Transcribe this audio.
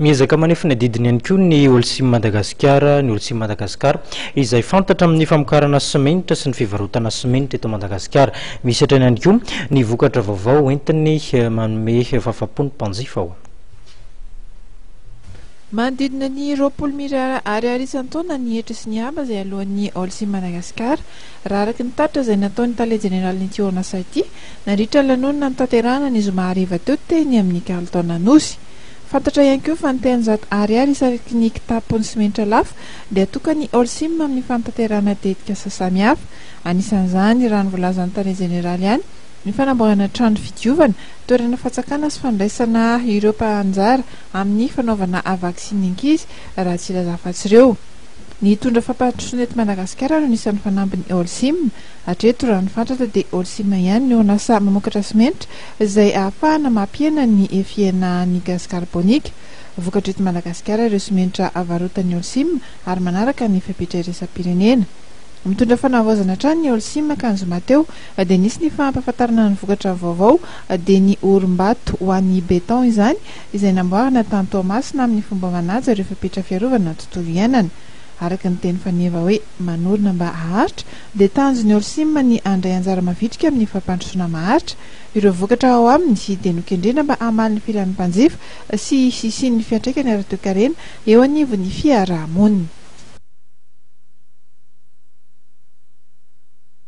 Miezaka manefy ny adidiny ihany koa ny Holcim Madagasikara, ny Holcim Madagascar, izay fantatra amin'ny famokarana simenitra sy ny fivarotana simenitra eto Madagasikara. Misy hatrany ihany koa ny vokatra vaovao hoentiny manome fahafapo ny mpanjifa ao. Manodidina ny roapolo mirara ariary isan-taona ny hetra sy ny haba izay aloan'ny Holcim Madagascar, raha araka ny tatitra izay nataon'ny tale jeneralin'ity orinasa ity nandritra ny lanonana notanterahana ny zoma hariva teo teny amin'ny kalitaon'Anosy. Fantatra ihany koa fa ny telonjato Ariary isaky ny kitapo ny simenitra lafo dia tokan'ny Holcim amin'ny fanatanterahana tetikasa samihafa. Anisan'izany, raha ny voalazan'ny tale jeneraly ihany, ny fanamboarana trano fidiovana, toerana fatsakana sy fandraisana ireo mpahanjara amin'ny fanaovana vaksiny ankizy, raha tsy ilaza afa-tsy ireo. Ny hitondra fampandrosoana eto Madagasikara no anisan'ny fanambin'ny Holcim. Hatreto, raha ny fantatra dia Holcim ihany no lasa mamokatra simenitra izay ahafahana mampihena ny fihenahan'ny gazy karbonika vokatra eto Madagasikara ireo simenitra avarotan'ny Holcim ary manaraka ny fepetra iraisam-pirenena. Mitondra fanavaozana hatrany ny Holcim ka ny zoma teo dia nisy ny fahampahafantarana ny vokatra vaovao dia ny orim-bato ho an'ny beton izany izay namboarina tany Toamasina amin'ny fomba manaja ireo fepetra fiarovana ny tontolo iainana araka ny teny faneva hoe manorina mba haharitra dia tanjon'i Holcim ny handray anjara mavitrika amin'ny fampandrosoana maharitra ireo vokatra ao aminy dia nokendrena mba hamaly ny filan'ny mpanjifa sy hisisin'ny fiantraikany ara-toekarena eo anivon'ny fiarahamonina.